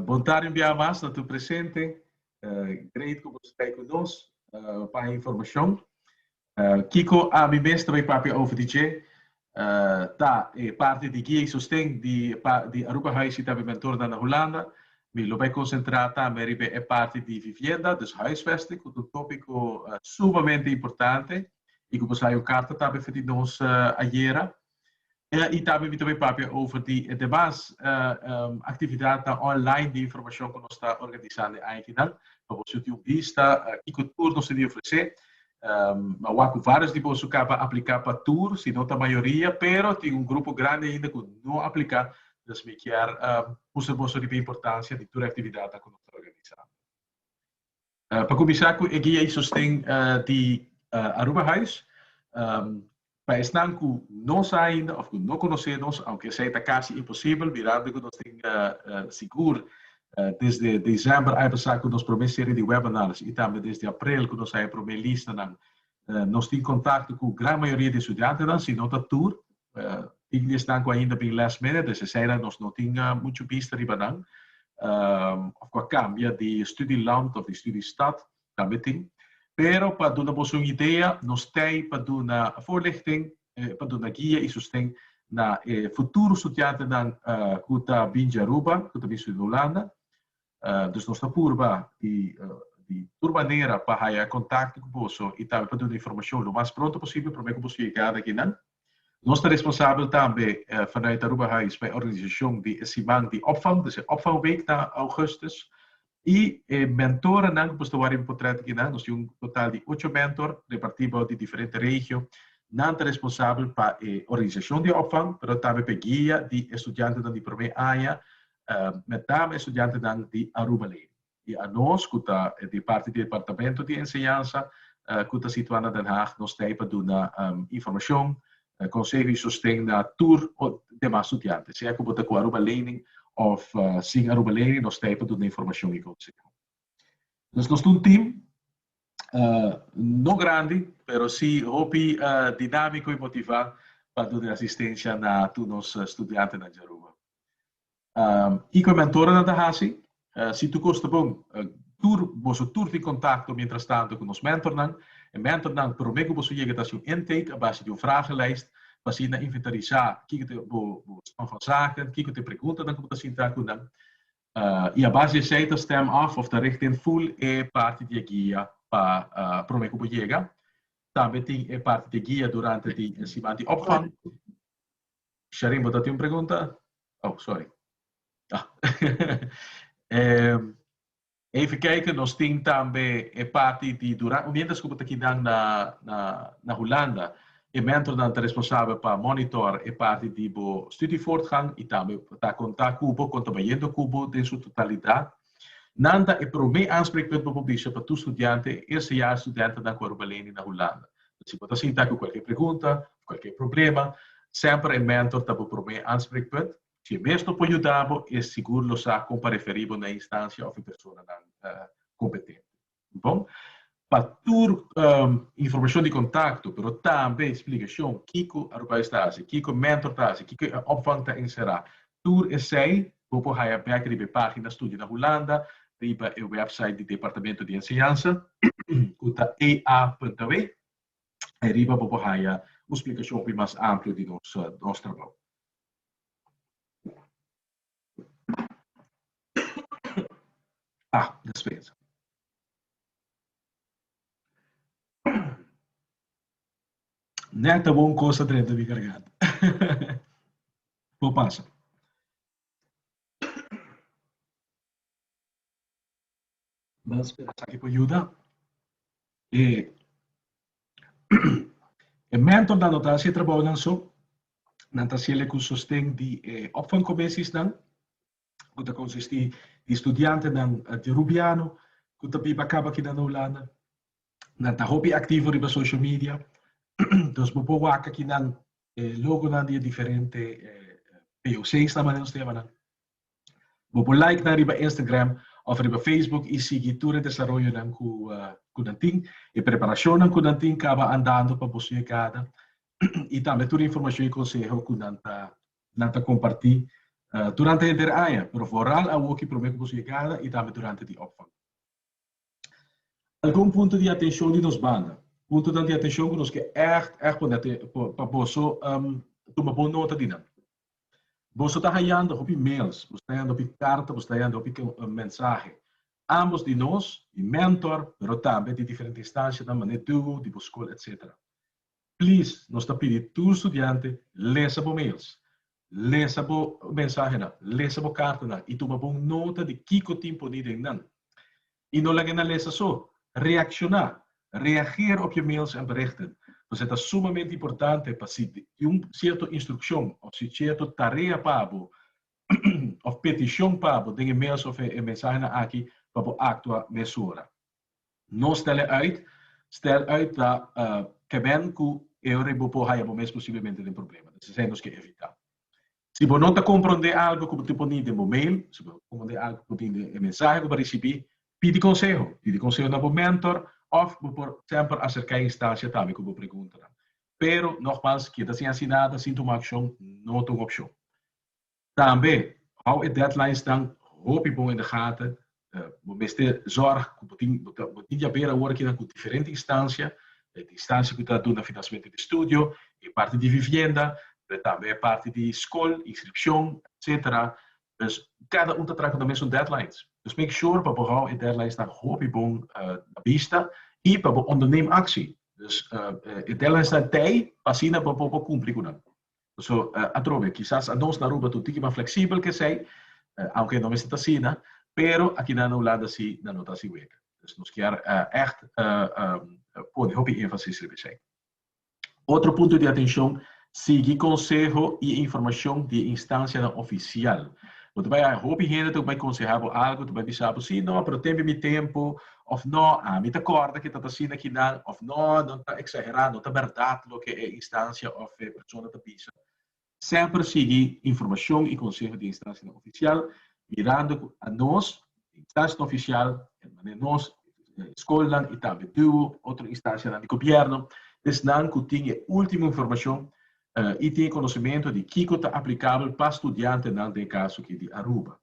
Bon tarde un bia mas na tur presente. Great ku bo sta ei ku nos pa e informashon. Kiko, ami mes ta bai papia over di dje. Ta e parti di guia i sosten di di Aruba Huis i tambe Mentor na Hulanda. Mi lo bai konsentrá tambe riba e parti di vivienda, dus huisvesting, ku ta un tópiko sumamente importante i ku bo sai un karta tambe for di nos ayera. I tambe mi ta bai papia over di e demas aktividatnan online di informashon ku nos ta organisá den Aiki nan, pa bo suti un bista kiko tur nos ta di ofresé. Awor cu varios di boso caba aplica pa tur, sino ta mayoria, pero tin un grupo grandi ainda cu no aplica, dus mi kier mustra boso riba e importancia di tur e actividadnan cu nos ta organisa. Pa cuminsa cu e guia y sosten di Aruba Huis, Pa esnan ku no sa ainda òf ku no konosé nos, aunke esei ta kasi imposibel, mirando ku nos tin sigur desde desèmber aña pasá ku nos promé serie di webinars i tambe desde aprel ku nos haña promé listanan, nos tin kontakto ku gran mayoria di estudiantenan, si no ta tur. Tin di esnan ku ainda bin last minute, es eseinan nos no tin muchu bista riba nan òf ku a kambia di studiland òf di studiestad. Tabletin. Pero pa duna boso un idea, nos ta ei pa duna voorlichting, pa duna guia i sosten na e futuro studiantenan ku ta bin dje Aruba, ku ta bin studia Hulanda. Dus nos ta purba di di tur manera pa haya kontakto ku boso i tambe pa duna informashon lo mas pronto posibel promé ku boso yega na kinan. Nos ta responsabel tambe vanuit Aruba Hais pa e organisashon di e siman di opvang, dus e opvangweek ta ougùstus. I e mentoranan ku por ta wòrdu importrèt aki nan, nos tin un total di ocho mentor repartí bou di diferente regio. Nan ta responsabel pa e organisashon di opvang pero tambe pa e guia di e studiantenan di promé aña, met name e studiantenan di Aruba Lady. I anos ku ta di parti di Departamento di Enseñansa ku ta situá na Den Haag nos t'ei pa duna informashon, konseho i sosten na tur demas studiante. Sea ku bo ta ku Aruba Lening òf sin Aruba Lening nos t'ei pa duna informashon i konseho. Entonces nos ta un tim no grandi pero si hopi dinámiko i motivá pa duna asistensia na tur nos studiantenan dja Aruba. Kiko e mentorenan ta hasi? Si tur kos ta bon, tur boso tur tin kontakto miéntras tantu ku nos mentornan. E mentornan promé ku boso yega ta hasi un intake a base di un vragenlijst pa asina inventarisá kiko ta bo stan van zaken, kiko ta e preguntanan ku bo ta sinta ku nan. I a base di esei ta stem af òf ta richt den ful e parti di e guia pa promé ku bo yega. Tambe tin e parti di e guia durante di e siman di opvang. Sharin bo ta tin un pregunta? Oh, sorry. Ah. eh, even kijken, nos tin tambe e party di Duran. Mientras que ta kidan na, na, na Hulanda, e mentor dan ta responsabel pa monitor e party di bo studievoortgang y tambe ta conta cubo, conta bayendo cubo den su totalidad. Nan ta e promé aanspreekpunt pa bo bisha pa tur studiante, eerste jaar studente nan ku a ruba leni na Hulanda. Nan si bo ta sinta ku kualke pregunta of kualke problema, semper e mentor ta bo promé aanspreekpunt. Si e mes no por yuda bo, e sigur lo sa kon pa referí bo na e instansia of e personanan kompetente. Bon, pa tur informashon di kontakto, pero tambe splikashon kiko Arubais ta hasi, kiko Mentor ta hasi, kiko e opvang ta enserá, tur esei bo por haña bèk riba e página Studia na Hulanda riba e wèpsait di Departamento di Enseñansa, ku ta ea.aw. Ai riba bo por haña un splikashon hopi mas amplio di nos trabou. Ah, despensa. Nè ta bon cosa drenta mi garganta. Por pasa. Nan spera esaki por yuda. E e mentor nan no ta hasi e trabounan so, nan ta hasi el e ku sosten di e opvangkomisiesnan ku ta konsistí di studiantenan di Rubiano ku ta biba kaba akina na Hulanda. Nan ta hopi aktivo riba social media, dus bo por wak aki nan e logonan di e diferente POCsnan, manera nos ta yama nan. Bo por like nan riba Instagram of riba Facebook y sigui tur e desaroyonan cu nan tin. E preparacionnan cu nan tin caba andando pa boso yegada y tambe tur e informacion y conseho cu nan ta comparti durante henter aña, pero vooral awoki prome cu boso yegada y tambe durante di opvang. Algun punto di atencion di nos banda. Puntonan di atencion cu nos ke echt echt pone pa boso tuma bon nota di nan. Boso ta hayando hopi mails, boso ta hayando hopi carta, boso ta hayando hopi mensahe, ambos di nos, di mentor, pero tambe di diferente instancianan manera duo, di bo school, etc. Please, nos ta pidi tur studiante lesa bo mails, lesa bo mensahenan, lesa bo cartanan y tuma bon nota di kico tin poni den nan. I no laga na lesa so. Reacciona. Reageer op je mails en berichten. Nos e ta sumamente importante pa si un cierto instruccion of si cierto tarea pa bo of peticion pa bo den e mails of e mensahenan aki pa bo actua mesora. No stel e uit. Stel uit ta keben cu e ora ei bo por haya bo mes posiblemente den problema. Des esei nos ke evita. Si bo no ta komprondé algu ku bo tin poni den bo mail, si bo no ta komprondé algu ku bo tin den e mensahe ku bo a risibí, pidi konseho. Pidi konseho na bo mentor òf bo por semper aserká e instancia tambe ku bo pregunta nan. Pero, nogmals, keda sin hasi nada, sin tuma akshon, no ta un opshon. Tambe, hou e deadlines nan hopi bon in de gata, Bo mester zorg cu bo tin, bo ta, bo tin dja bira awor kinan cu diferente instancia, e instancia cu ta duna financiamento di studio, e parti di vivienda, pero tambe e parti di scol, inscripcion, etcetera. Dus cada un ta traha cu nan mesun deadlines. Dus make sure pa bo hou e deadlinesnan hopi bon na bista y pa bo onderneem actie. Dus e deadlinesnan tey pa asina bo por cumpli cu nan. So, atrobe, kisas anos na Aruba tur tiki mas fleksibel ke esei, aunke no mester ta asina, pero aki nan Hulanda asi nan no ta hasi wega. Dus nos kier ègt pone hopi énfasis riba esei. Otro punto di atenshon, sigui konseho i informashon di e instansianan ofisial. Bo ta bai hopi hende ta bai konsehá bo algu, ta bai bisa bo, sí, no, pero tembe mi tempu, Of no, ami ta corda ke ta ta asina kinan, of no, no ta exagera, no ta berdad loke e instancia of e persona ta bisa. Semper sigui informacion y conseho di instancianan oficial, mirando cu anos, e instancianan oficial, hermane nos, scolnan y tambe duo otro instancianan di gobierno, esnan cu tin e ultimo informacion y tin e conocimento di kico ta aplicabel pa studiantenan den e caso aki di Aruba.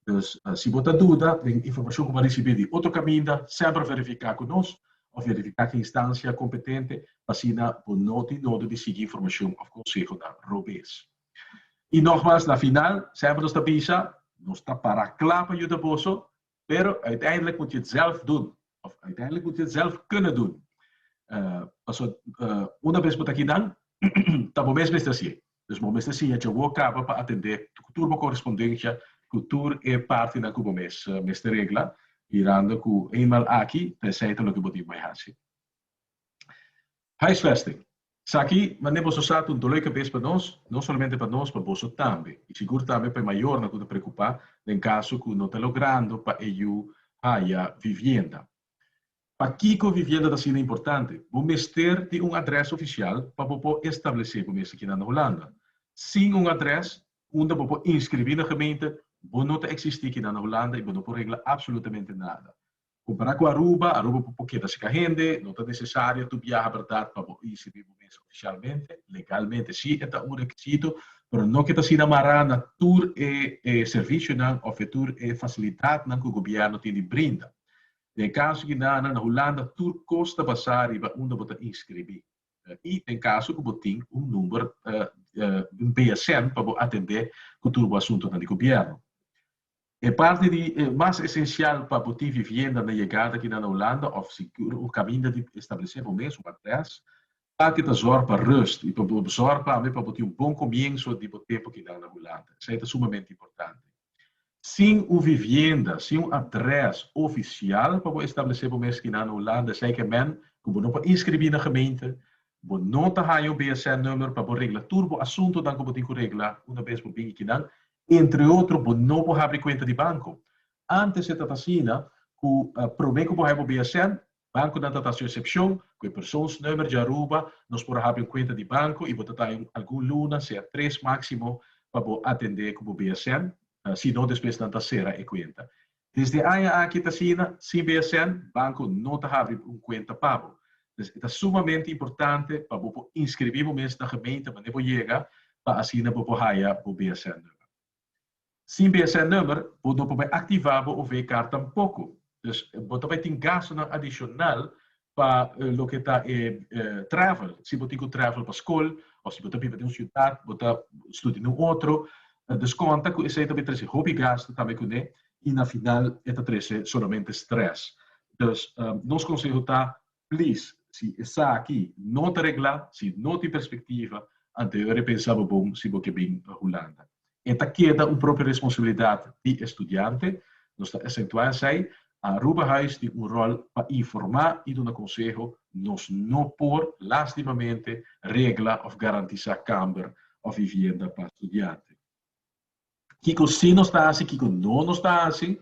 Dus si bo ta duda den informashon ku bo a risibí di otro kaminda, semper verifiká ku nos òf verifiká ku instancia kompetente pa asina bo no tin nodo di sigui informashon òf konsehonan robes. I nògmas na final semper nos ta bisa nos ta pará kla pa yuda boso pero uiteindelik mut jit sèlf dun Of uiteindelik bo tin zelf kune dun. Paso una bes bo ta aki dan ta bo mes mester hasi e. Dus bo mester siña Jehová kaba pa atendé tur bo korespondensia ku tur e partinan ku bo mes mester regla, mirando ku eenmaal aki ta esei ta loke bo tin bai hasi. Huisvesting. Esaki mane boso sa ta un dolé kabes pa nos, no solamente pa nos, pa boso tambe, i sigur tambe pa e mayornan ku ta preokupá den kaso ku no ta logrando pa e yu haya vivienda. Pakiko vivienda ta asina importante? Bo mester tin un adrès ofisial pa bo por establesé bo mes aki na Holanda. Sin un adrès unda bo por inskribí na gemeente, bo no ta eksistí aki na Holanda i bo no por regla apsolutamente nada. Kompará ku Aruba, Aruba bo por keda serka hende, no ta nesesario tur biaha bèrdat pa bo i sirbi bo mes ofisialmente. Legalmente sí e ta un rekisito, pero no ke ta asina mará na tur e e servisionan òf e tur e fasilidatnan ku gobièrnu tin di brinda. Den e kaso di nan, na Hulanda tur kos ta basá riba unda bo ta inskribí i den kaso ku bo tin un number, un BSN, pa bo atendé ku tur bo asuntunan di gobièrnu. E parti di e mas esensial pa bo tin vivienda na yegada aki na Hulanda of si bo kaminda di establesé bo mes un adrès, tal ke ta zòrg pa rust i pa bo zòrg tambe pa bo tin un bon komienso di bo tempu aki nan na Hulanda. Esei ta sumamente importante. Sin un vivienda, sin un adrès ofisial pa bo establesé bo mes aki nan na Hulanda, esei ke men ku bo no por inskribí na gemeente, bo no ta haña un BSN-nummer pa bo regla tur bo asuntonan ku bo tin ku regla una bes bo bin aki nan Entre otro bo no por habri cuenta di banco. Antes e ta ta asina cu prome cu bo hay bo BSN, banconan ta ta su excepcion, cu e persoonsnummer dja Aruba, nos por a habri un cuenta di banco y bo ta ta hay algun luna, sea tres maximo, pa bo atende cu bo BSN, si no despues nan ta cera e cuenta. Desde aña aki ta asina, sin BSN, banco no ta habri un cuenta pa bo. Pues e ta sumamente importante pa bo por inscribi bo mes na gemeente manera bo yega pa asina bo por haya bo BSN number. Sin BSN number bo no por bay activa bo OV-kaart tampoco. Pues bo ta bay tin gastonan adicional pa loke ta e travel si bo tin ku travel pa skol o si bo ta biba den un siudat bo ta studia den un otro dus konta ku esei ta bin trese hopi gastu tambe kuné i na final e ta trese solamente strès dus nos konseho ta plis si esaki no ta reglá si no tin perspektiva anto yo a repensá bo bon si bo ke bin Hulanda E ta keda un propio responsabilidat di e studiante. Nos ta acentua esai, Aruba Huis tin un rol pa informa y duna conseho, nos no por, lastimamente, regla of garantisa kamber of vivienda pa studiante. Kico si nos ta haci, kico no nos ta haci?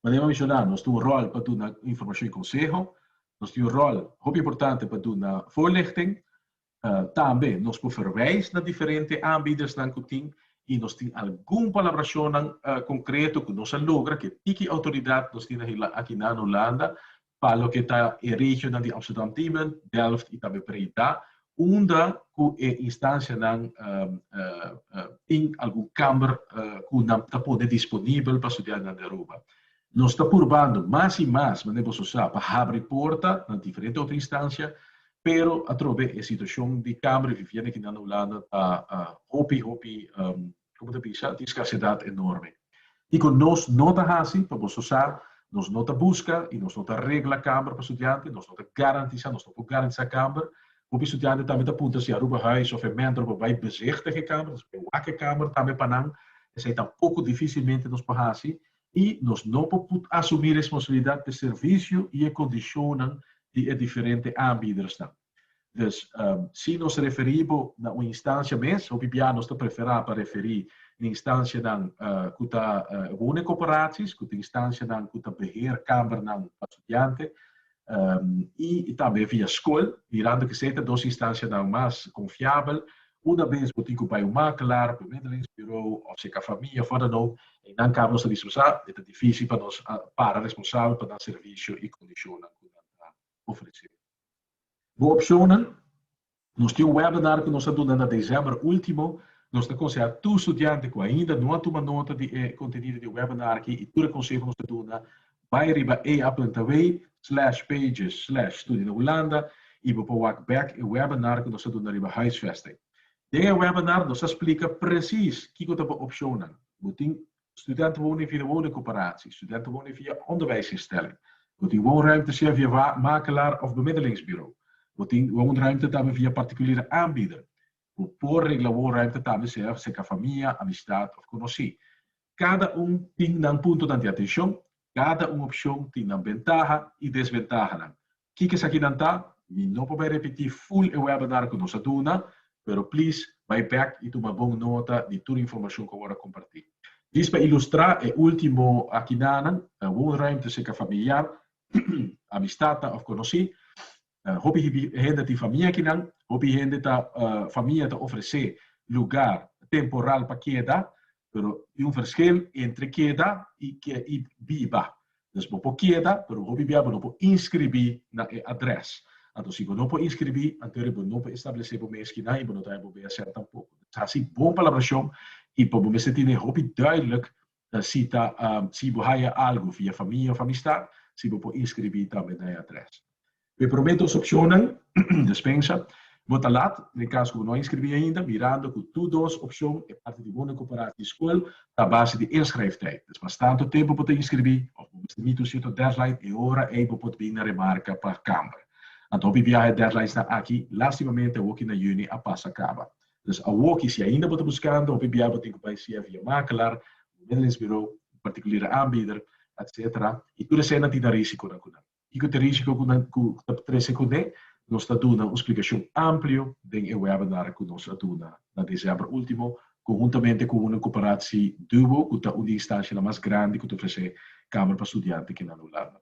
Manera mi menciona, nos tin un rol pa duna informacion y conseho. Nos tin un rol hopi importante pa duna voorlichting. Tambe nos por verwijs na diferente aanbiedersnan cu tin y nos tin algun palabracionnan concreto cu nos a logra cu e tiki autoridad nos tin aki na Holanda pa loke ta e regionnan di Amsterdam-Diemen, Delft y tambe Breda unda cu e instancianan tin algun kamber cu nan ta pone disponibel pa studiantenan di Aruba. Nos ta purbando mas i mas, mende boso sa, pa habri porta na diferente otro instancia, pero atrobe e situacion di camber di vivienda aki nan Hulanda ta hopi, hopi, como ta bisa, tin scarcedad enorme. Kico nos no ta haci? Pa boso sa, nos no ta busca i nos no ta regla camber pa studiante, nos no ta garantisa, nos no por garantisa camber. Hopi studiante tambe ta puntra si Aruba Huis of e mentor por bay bezichtig e camber, ta bay wak e camber tambe pa nan, esey tampoco dificilmente nos por haci, i nos no por put asumí responsabilidat p'e servisio i e kondishonnan di e diferente aanbiedersnan. Dus, si nos referí bo na un instansia mes, hopi bia nos ta preferá pa referí na instansianan ku ta wunekoperaties, ku ta instansianan ku ta beheer kamernan pa studiante, y tambe via scol, mirando ke esei ta dos instancianan mas confiabel, una bes bo tin ku bai un makelaar, bemiddelingsbureau of si e ka famia of wat dan ook, einan kabe nos ta bisa sa, e ta difisil pa nos para responsabel pa nan servicio y condicionnan ku nan ta ofrece. Bo opcionnan. Nos tin un webinar ku nos a duna na desèmber último. Nos ta konsehá tur studiante ku ainda no a tuma nota di e kontenido di e webinar aki i tur e konseho nos ta duna, bai riba eaplantaway slash pages slash Studia na Hulanda i bo por wak bèk e webinar ku nos a duna riba huisvesting. Den e webinar nos a splika presis kiko ta bo opshonnan. Bo tin Studenten wonen via woningcoöperatie. Studenten wonen via onderwijsinstelling. Bo tin woonruimte sea via wa makelaar of bemiddelingsbureau. Bo tin woonruimte tambe via particuliere aanbieder. Bo por regla woonruimte tambe sea serka famia, amistad of conoci. Cada un tin nan puntonan di atencion. Cada un opcion tin nan ventaha y desventahanan. Kiko esakinan ta? Mi no por bai repití ful e webinar ku nos a duna, pero please bai bèk i tuma bon nota di tur informashon ku awor a kompartí. Djis pa ilustrá e último akinanan, woonruimte seka familiar, amistatnan òf konosí. Hopi hende tin famia akinan. Hopi hende ta famia ta ofresé lugá temporal pa keda. pero tin un verschil entre keda i i biba. Dus bo por keda, pero hopi bia bo no por inskribí na e adrès. Anto si bo no por inskribí, anto ri bo no por establesé bo mes kinan i bo no ta haña bo BSN tampoko. Bo mester hasi bon palabrashon i bo mester tene hopi duidelijk si ta si bo haña algu via famia of amistat, si bo por inskribí tambe na e adrès. Pa e promé dos opcionnan, despensa, bo ta lat, na e cas cu bo no a inscribí ainda, mirando cu tur dos opcion e parti di Bono di Cooperatie di School ta base di inschrijftijd. Pues mas tanto tempo bo ta inscribí of bo mester miti un cierto deadline, e ora ei bo por bin na remarca pa Camber. Anto hopi biaha e deadlinesnan aki, lastimamente, awoki na juni, a pasa caba. Entonces, awoki, si ainda bo ta buscando, hopi biaha bo tin cu bai sea via makelaar, bemiddelingsbureau, un particuliere aanbieder, etc. Y tur eseinan tin nan risiconan cu nan. i ku ta risiko ku nan ku ta trese kuné, nos ta duna un splikashon amplio den e webinar ku nos a duna na desèmber último, konhuntamente ku una koperatsi Duo ku ta un di instanshanan mas grandi ku ta ofresé kamer pa studiante kina na Hulanda.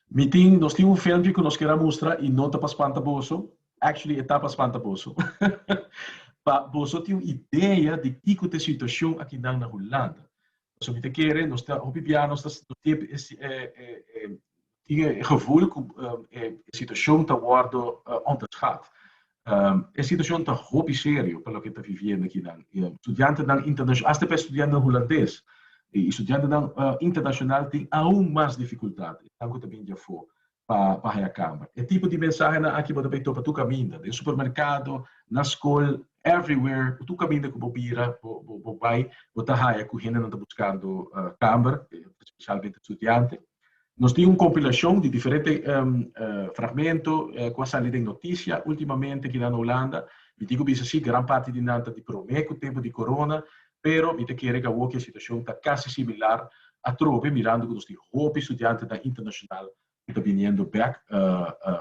Mi tin nos tin un filmpje ku nos kera mustra i no ta pa spanta boso, actually e ta pa spanta boso, pa boso tin un idea di kiko ta e situashon akinan na Hulanda. Pasobra mi ta kere nos ta hopi bia nos ta tin e gevoel ku e situashon ta wòrdu onderschat. E situashon ta hopi serio pa loke ta viviendo aki nan. Studiantenan internashonal, asta pa e studiantenan hulandes i studiantenan internashonal tin aun mas difikultat, esnan ku ta bini di afó. pa haña kama. E tipo di mensahenan aki bo ta bay topa tur kaminda, den supermerkado, na skol, everywhere, tur kaminda ku bo bira, bo bay, bo ta haña ku hendenan ta buskando kamer, spesialmente studiante. Nos tin un kompilashon di diferente fragmento ku a sali den notisia ultimamente aki nan na Hulanda. Mi tin ku bisa si, gran parti di nan ta di promé ku tempu di korona, Pero mi ta kere ca awor cu e situacion ta casi similar atrobe mirando cu nos tin hopi studiantenan internacional cu ta biniendo bek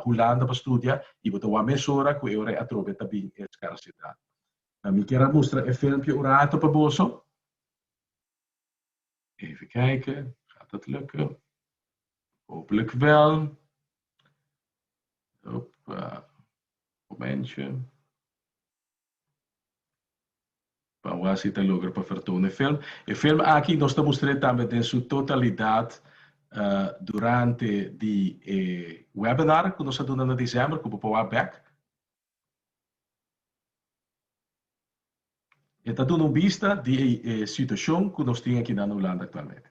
Hulanda pa studia y bo ta wak mesora cu e ora atrobe ta bin e scarcidad. Mi kier a mustra e filmpje un rato pa boso. Even kijke, gaat dat lukken? Hopelijk wel. Opa, momentje. Pa wak si ta logra pa fertó un e film. E film aki nos ta mustr'é tambe den su totalidat durante di e webinar ku nos a duna na December ku bo por wak bèk. E ta duna un bista di e situashon ku nos tin aki na Hulanda aktualmente.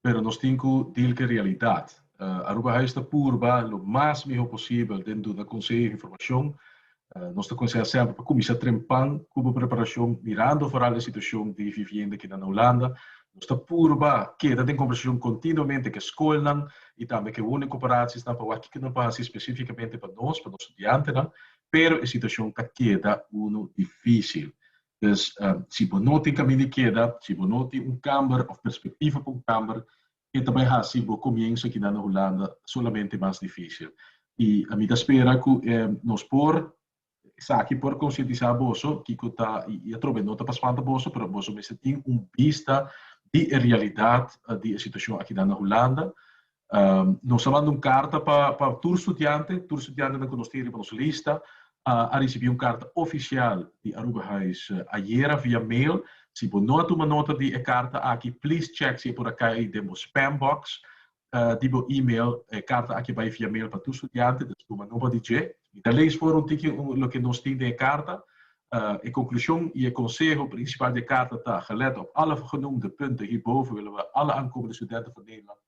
pero nos tin cu deal cu e realidad. Aruba Huis ta purba lo mas miho posibel den duna conseho y informacion. Nos ta conseha semper pa cuminsa trempan cu bo preparacion mirando foral e situacion di vivienda kinan na Hulanda. Nos ta purba keda den conversacion continuamente cu e scolnan y tambe cu e woningcoöperaciesnan pa wak kico nan por haci specificamente pa nos, pa nos studiantenan, pero e situacion ta keda unu dificil. Dus, si bo no tin kaminda di keda, si bo no tin un kamber òf perspektiva pa un kamber, ke ta bai hasi bo komienso akinan na Hulanda solamente mas difísil? I ami ta spera ku nos por esaki por konsientisá boso kiko ta i atrobe no ta pa spanta boso pero boso mester tin un bista di e realidat di e situashon akinan na Hulanda. Nos a manda un karta pa pa tur studiante. Tur studiantenan ku nos tin riba nos lista a risibí un karta ofisial di Aruba Huis ayera via mail. Si bo no a tuma nota di e karta aki please chek si e por a kai den bo spam box di bo email. E karta aki a bai via mail pa tur studiante dus tuma nota di dje. Mi ta lees for un tiki loke nos tin den e karta. E konklushon i e konseho prinsipal di e karta ta, gelet op alle genoemde punten hierboven willen we alle aankomende studenten van Nederland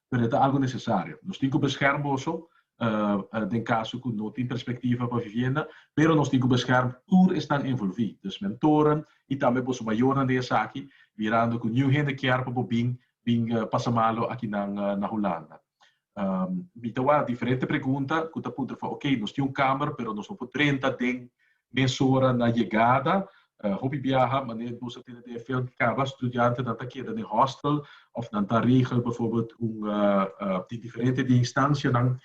pero e ta algu nesesario. Nos tin ku beskèrm boso den kaso ku no tin perspektiva pa vivienda, pero nos tin ku beskèrm tur esnan envolví, dus mentoren i tambe boso mayornan den esaki, mirando ku niun hende kier pa bo bin bin pasa malu aki nan na Hulanda. Mi ta wak diferente pregunta ku ta puntra for, ok, nos tin un kamer pero nos no por drenta den Mesora na yegada, hopi biaha manera nos a tene dfl di caba, studiantenan ta keda den hostel of nan ta regel bijvoorbeeld un tin diferente di instancianan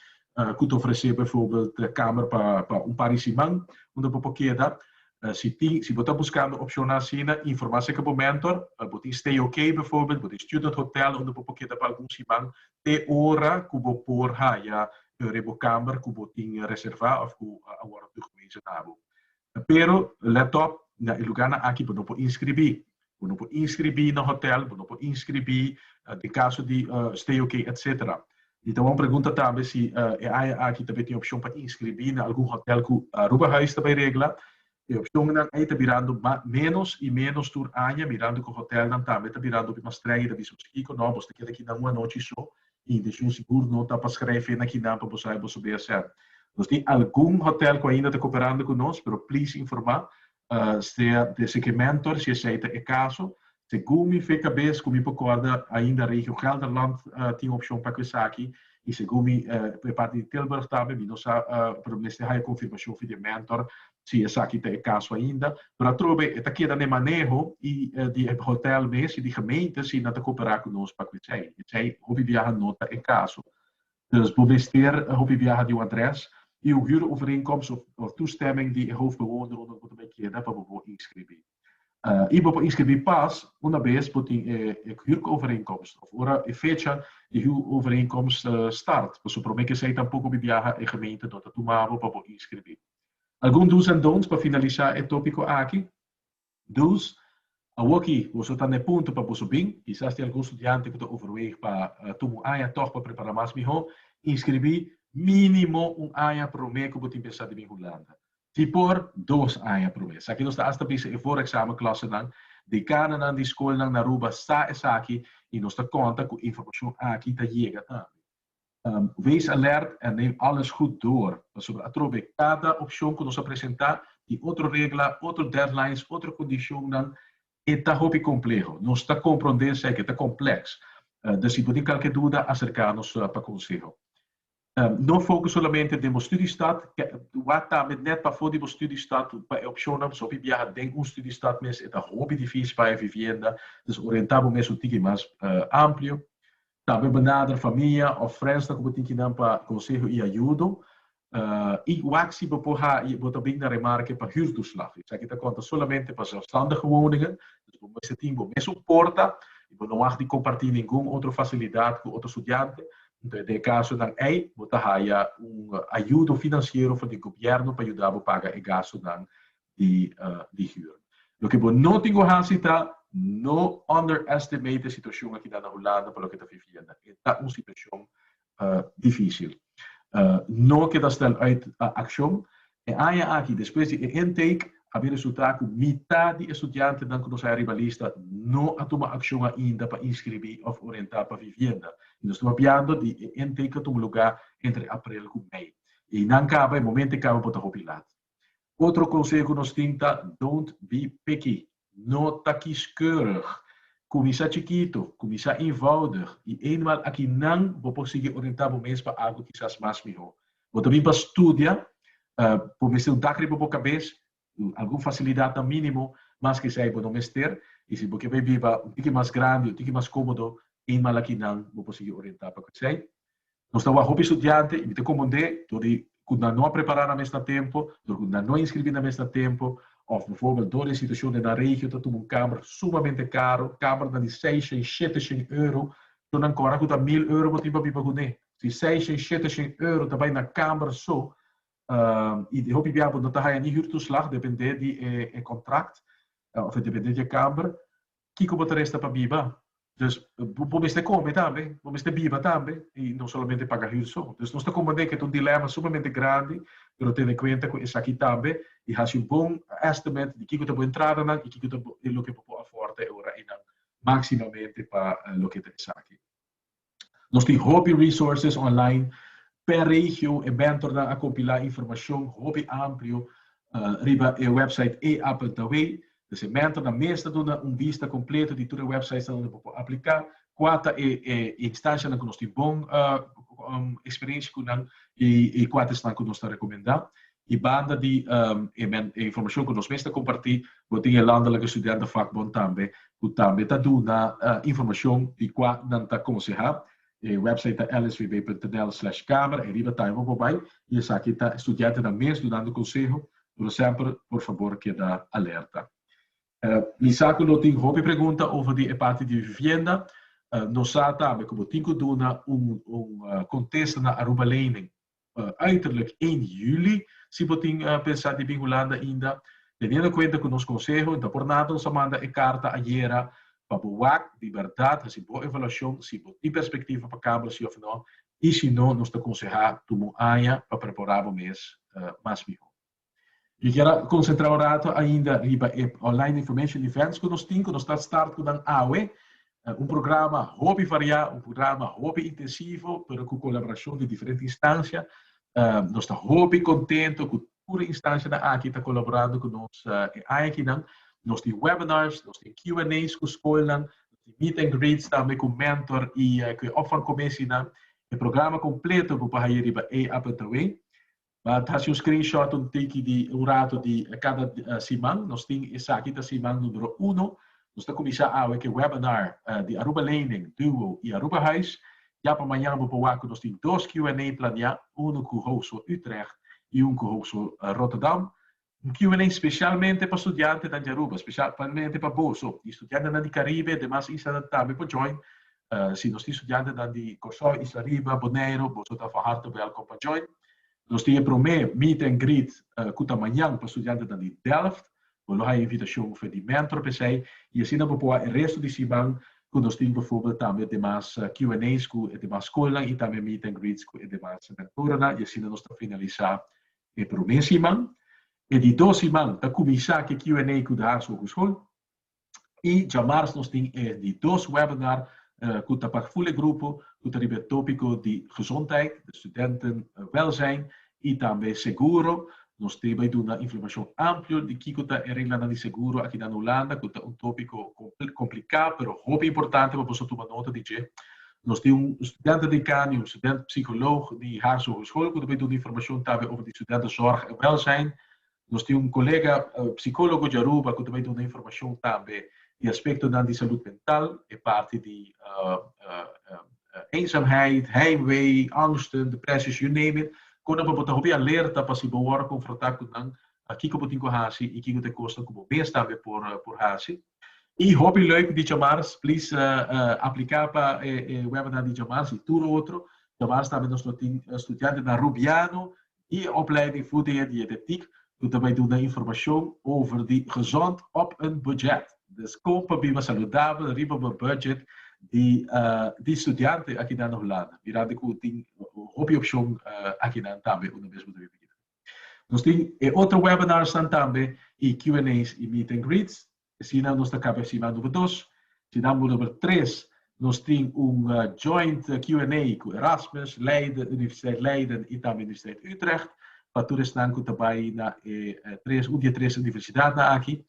cu ta ofrece bijvoorbeeld kamer pa un par di siman unda bo por keda. Si tin, si bo ta buscando opcionnan asina informa seca bo mentor, bo tin stay ok bijvoorbeeld, bo tin student hotel unda bo por keda pa algun siman te ora ku bo por haya un rebokamber ku bo tin reservá òf ku a wòrdu tugvezen na bo. Pero lèt òp, na e lugánan aki bo no por inskribí. Bo no por inskribí na hotèl, bo no por inskribí den kaso di stay ok etsetera. Mi ta wòl un pregunta tambe si e aña aki ta bai tin opshon pa inskribí na algun hotèl ku Aruba Huis ta bai regla E opcionnan ei ta birando menos y menos tur aña, mirando cu hotelnan tambe ta birando hopi mas streng y ta bisa boso kico, no, bos ta keda akinan un anochi so y intencion sigur no ta pa screve na kinan pa bo sa y boso bay hacer. Nos tin algun hotel cu ainda ta cooperando cu nos, pero please informa sea de Sekementor si esey ta e caso, Segun mi fe cabes cu mi por corda ainda Regio Gelderland tin opcion pa cu esaki y segun mi e parti di Tilburg tambe, mi no sa pero mi mester haya confirmacion for di e mentor si esaki ta e caso ainda. Pero atrobe e ta keda na e maneho y di e hotel mes y di gemeente si nan ta coopera cu nos pa cu esey. Esey hopi biaha no ta e caso. Dus bo mester hopi biaha di un adres y un huurovereenkomst of toestemming di e hoofdbewoner rond bo ta bay keda pa bo bo inscribí. I bo por inskribí pas una bes bo tin e huurovereenkomst òf ora e fecha di huurovereenkomst start. Pasobra promé ke esei tampoko biaha e gemeente no ta tuma bo pa bo inskribí. Algun do's en don'ts pa finalisá e tópiko aki. Do's, Awoki boso ta na e punto pa boso bin. Kisas tin algun studiante ku ta overweeg pa tuma un aña tòg pa prepará mas mihó. Inskribí mínimo un aña promé ku bo tin pensá di bin Hulanda. Di por dos aña promé. Esaki nos ta asta bisa e voorexamen klòsenan. Dekananan di skolnan na Aruba sa esaki i nos ta konta ku informashon aki ta yega tambe. Wees alert en neem alles goed door, pasobra atrobe kada opshon ku nos a presentá tin otro regla, otro deadlines, otro kondishonnan. E ta hopi kompleho. Nos ta komprondé eseki, e ta komplèks. Dor si bo tin kalke duda, aserká nos pa konseho. No fokus solamente den bo studiestad. Wak ta met nèt pafó di bo studiestad pa e opshonnan pasobra biaha den un studiestad mes e ta hopi difísil pa haña vivienda. Dus orientá bo mes un tiki mas amplio. Tambe benader famia òf frènsnan ku bo tin kinan pa konseho i ayudo. I wak si bo por haña bo ta bin na remarke pa hürtoeslag. Esaki ta konta solamente pa zelfstandige woningen. Dus bo mester tin bo mes un porta i bo no mag di kompartí ningun otro fasilidat ku otro studiante. Nto den e kasonan ei bo ta haya un ayudo finansiero for di gobièrnu pa yuda bo paga e gastunan di hür. Loke bo no tin ku hasi ta no underestimate e situashon akinan na Hulanda pa loke ta Vivienda. E ta un situashon difísil. No keda stel uit akshon. E aña aki, despues di e intake, a bin resultá ku mitá di e studiantenan ku nos haya riba lista no a tuma akshon ainda pa inskribí òf orientá pa vivienda. I nos ta hopiando di e intake ta tuma lugá entre aprel ku mei. I nan kaba, e momentu e kaba por ta hopi lat. Otro konseho ku nos tin ta, Don't be picky. No ta kieskeurig. Kuminsá chikitu, kuminsá eenvoudig i eenmaal akinan bo por sigui orientá bo mes pa algu kisas mas mihó. Bo ta bin pa studia, bo mester un tak riba bo kabes, algun fasilidatnan mínimo, mas k'esei bo no mester, i si bo ke bai biba un tiki mas grandi, un tiki mas kómodo, eenmaal akinan bo por sigui orientá pa ku esei. Nos ta wak hopi studiante y mi ta componde dor di cu nan no a prepara nan mes na tempo, dor cu nan no a inscribi nan mes na tempo of bijvoorbeeld dor di e situacion den nan regio ta tuma un camber sumamente caro, cambernan di seis shen, shete shen euro, so nan cora cu ta mil euro bo tin pa biba cu ne. Si seis shen, shete shen euro ta bay na camber so y den hopi bia bo no ta haya ni huurtoeslag depende di e contract of depende di e camber kiko bo ta resta pa biba. Dus bo mester kome tambe, bo mester biba tambe, i no solamente paga hür so. Dus nos ta komprendé ku e ta un dilema sumamente grandi, pero tene kuenta ku esaki tambe i hasi un bon estimate di kiko ta bo entradanan i kiko ta bo loke bo por afòrda e ora einan, maksimamente pa loke ta esaki. Nos tin hopi resources online per regio, e mentornan a compila informacion hopi amplio riba e website e Apple ta wey. Pues e mentornan mes ta duna un vista completo di tur e websitesnan unda bo por aplica, cua ta e instancianan cu nos tin bon experiencia cu nan y cua ta esnan cu nos ta recomenda. I banda di e informashon ku nos mes ta kompartí, bo tin e Landelike Studentenvakbond tambe, ku tambe ta duna informashon di kua nan ta konsehá. E wèpsait ta lsvb.nl/kamer, ei riba ta ei bo por bai i esaki ta e studientenan mes dunando konseho, pero semper por fabor keda alerta. Mi sa ku lo tin hopi pregunta over di e parti di vivienda. Nos sa tambe ku bo tin ku duna un kontesta na Aruba Lening. uiterlijk één juli. Si bo tin pensá di bin Hulanda ainda, teniendo en cuenta cu nos conseho ta por nada nos a manda e carta ayera pa bo wak di berdad haci bo evaluacion si bo tin perspectiva pa cambio si of no y si no nos ta consehá tuma un aña pa prepara bo mes mas mihor. Yo kier a konsentrá un ratu ainda riba e online information events ku nos tin, ku nos ta start ku nan awe. Un programa hopi variá, un programa hopi intensivo, pero ku kolaborashon di diferente instansia. Nos ta hopi kontento ku tur e instansianan aki ta kolaborando ku nos e aña akinan. Nos tin webinars, nos tin Q and A's ku skolnan, nos tin meet and greets tambe ku mentor i ku e opvangkomissinan. E programa kompleto bo por haña riba eAppletaway. Bo ta hasi un screenshot un tiki di un ratu di kada siman. Nos tin esaki ta siman numero uno. Nos ta kuminsá awe ku e webinar di Aruba Lening, Duo i Aruba Huis. Ya pa mañan bo por wak ku nos tin dos Q&A planiá, unu ku Hogeschool Utrecht i un ku Hogeschool Rotterdam. Un Q and A specialmente pa studiantenan di Aruba, specialmente pa boso, y studiantenan di Caribe, demas islanan tambe por join. Si nos tin studiantenan di Corsou, Isla Riba, Boneiro, boso ta van harte welkom pa join. Nos tin e prome meet and greet cu ta mañan pa studiantenan di Delft. Bo lo haña invitacion fen di mentor pa esey y asina bo por a e resto di siman cu nos tin bijvoorbeeld tambe demas Q and A's cu e demas schoolnan y tambe meet and greets cu e demas mentorennan y asina nos ta finalisa E promé siman, e di dos siman, ta kuminsá ke Q and A ku Djaars Hogeschool. I djamars nos tin e di dos webinar ku ta pa full e grupo ku ta riba e tópiko di gezondheid, di studentenwelzijn i tambe seguro. Nos te bai duna informashon amplio di kiko ta e reglanan di seguro akinan Hulanda ku ta un tópiko kompliká pero hopi importante pa boso tuma nota di dje. Nos tin un studente dekaan i un studente psikoloog di Haarse Hogeschool ku ta bay duna informashon tambe over di studente zorg en welsijn. Nos tin un kolega psikologo di Aruba ku ta bay duna informashon tambe di aspektonan di salud mental, e parti di eenzaamheid, heimwee, angsten, depresies, you name it, konan pa bo ta hopi alerta pa si bo wòrdu konfrontá ku nan, kiko bo tin ku hasi i kiko ta e kosnan ku bo mes tambe por hasi. Y hopi leuk di Djamars, please aplica pa e webinar di Djamars y tur otro. Djamars tambe nos lo tin studiante na Rubiano y e opleiding fu de e dietetic cu ta bay duna informacion over di gezond op een budget. Dus con pa biba saludabel riba bo budget di di studiante akinan na Hulanda. Mirando cu tin hopi opcion akinan tambe unda mes bo ta biba. Nos tin e otro webinarsnan tambe y Q and A's y meet and greets. Asina nos ta caba e siman number dos. Sinan bo number tres nos tin un joint Q and A cu Erasmus, Leiden, Universiteit Leiden y tambe Universiteit Utrecht pa tur esnan cu ta bay na e tres un di e tres universidadnan aki.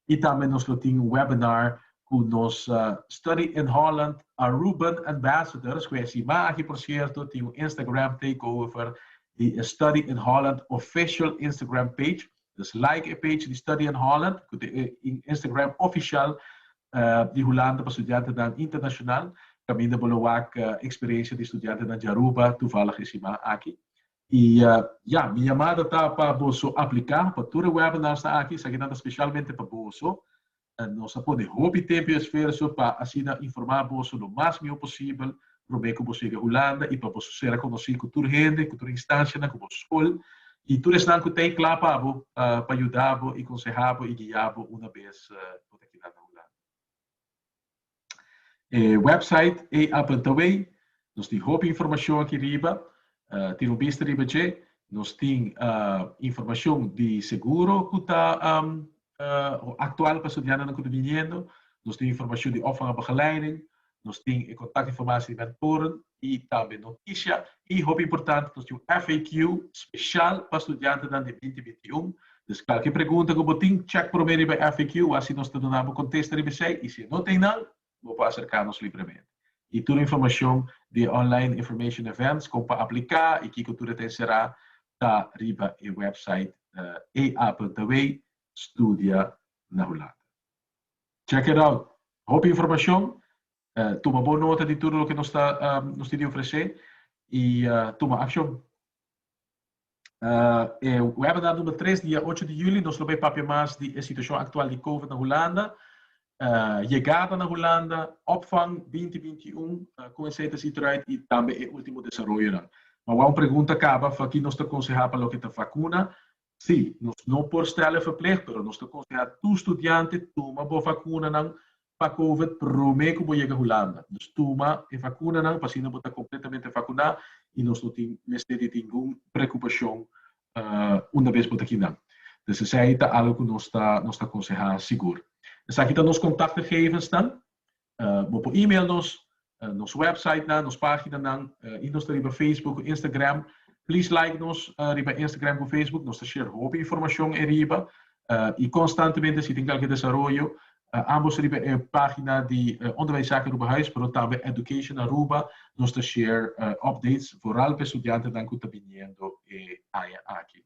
Y tambe nos lo tin un webinar cu nos Study in Holland Aruban Ambassadors cu e siman aki por cierto tin un Instagram takeover di e Study in Holland official Instagram page. Dus like e page di Study in Holland ku ta e Instagram ofishal di Hulanda pa studiantenan internashonal. Kaminda bo lo wak eksperiensha di studiantenan di Aruba tuvalig e siman aki. I ya, mi yamada ta pa bo so apliká pa tur e webinarnan aki. Esakinan ta speshalmente pa boso. Nos a pone hopi tempu i esfuerso pa asina informá boso lo mas mió posibel promé ku boso yega Hulanda i pa boso sera konosí ku tur hende, ku tur instanshanan, ku boso skol i tur esnan ku ta e kla pa bo pa yuda bo i konsehá bo i guiá bo una bes bo ta kila na Hulanda. E website ei apen ta wey. Nos tin hopi informashon aki riba. Tin un bista riba dje. Nos tin informashon di seguro ku ta aktual pa estudiantenan ku ta biniendo. Nos tin informashon di òf van e begeleiding. Nos tin e kontaktinformatie di mentoren. i tambe noticia i hopi importante nos tin un FAQ special pa studiantenan di binti binti i un. Dus cualkier pregunta cu bo tin check prome riba e FAQ a si nos ta duna bo contesta riba esey i si e no ta eynan bo por acerca nos libremente. I tur e informacion di e online information events con pa aplica i kico tur e ta encera ta riba e website ea.wy studia na Hulanda. Check it out! Hopi informacion Tuma bon nota di tur loke nos tin di ofresé i tuma akshon. E wèbinár number tres dia ocho di juli nos lo bai papia mas di e situashon aktual di Covid na Hulanda, yegada na Hulanda, opvang binti binti i un, kon esei ta si tròit i tambe e último desaroyonan. Awor un pregunta kaba, Faki nos ta konsehá pa loke ta vakuna Sí, nos no por stèl'e verpleg, pero nos ta konsehá tur studiante tuma bo vakunanan pa Covid promé ku bo yega Hulanda. Dus tuma e vakunanan p'asina bo ta kompletamente vakuná i nos no tin mester di ningun preokupashon undabes bo ta kinan. Des esei ta algu ku nos ta konsehá sigur. Esaki ta nos kontaktgegevensnan, Bo por email nos, nos website nan, nos pagina nan y nos ta riba Facebook cu Instagram. Please like nos riba Instagram cu Facebook, nos ta share hopi informacion e riba y constantemente si tin calke desaroyo ambos ta riba e pagina di Onderwijszaken Aruba Huis pero tambe Education Aruba, nos ta share updates foral pa e studiantenan cu ta biniendo e aña aki.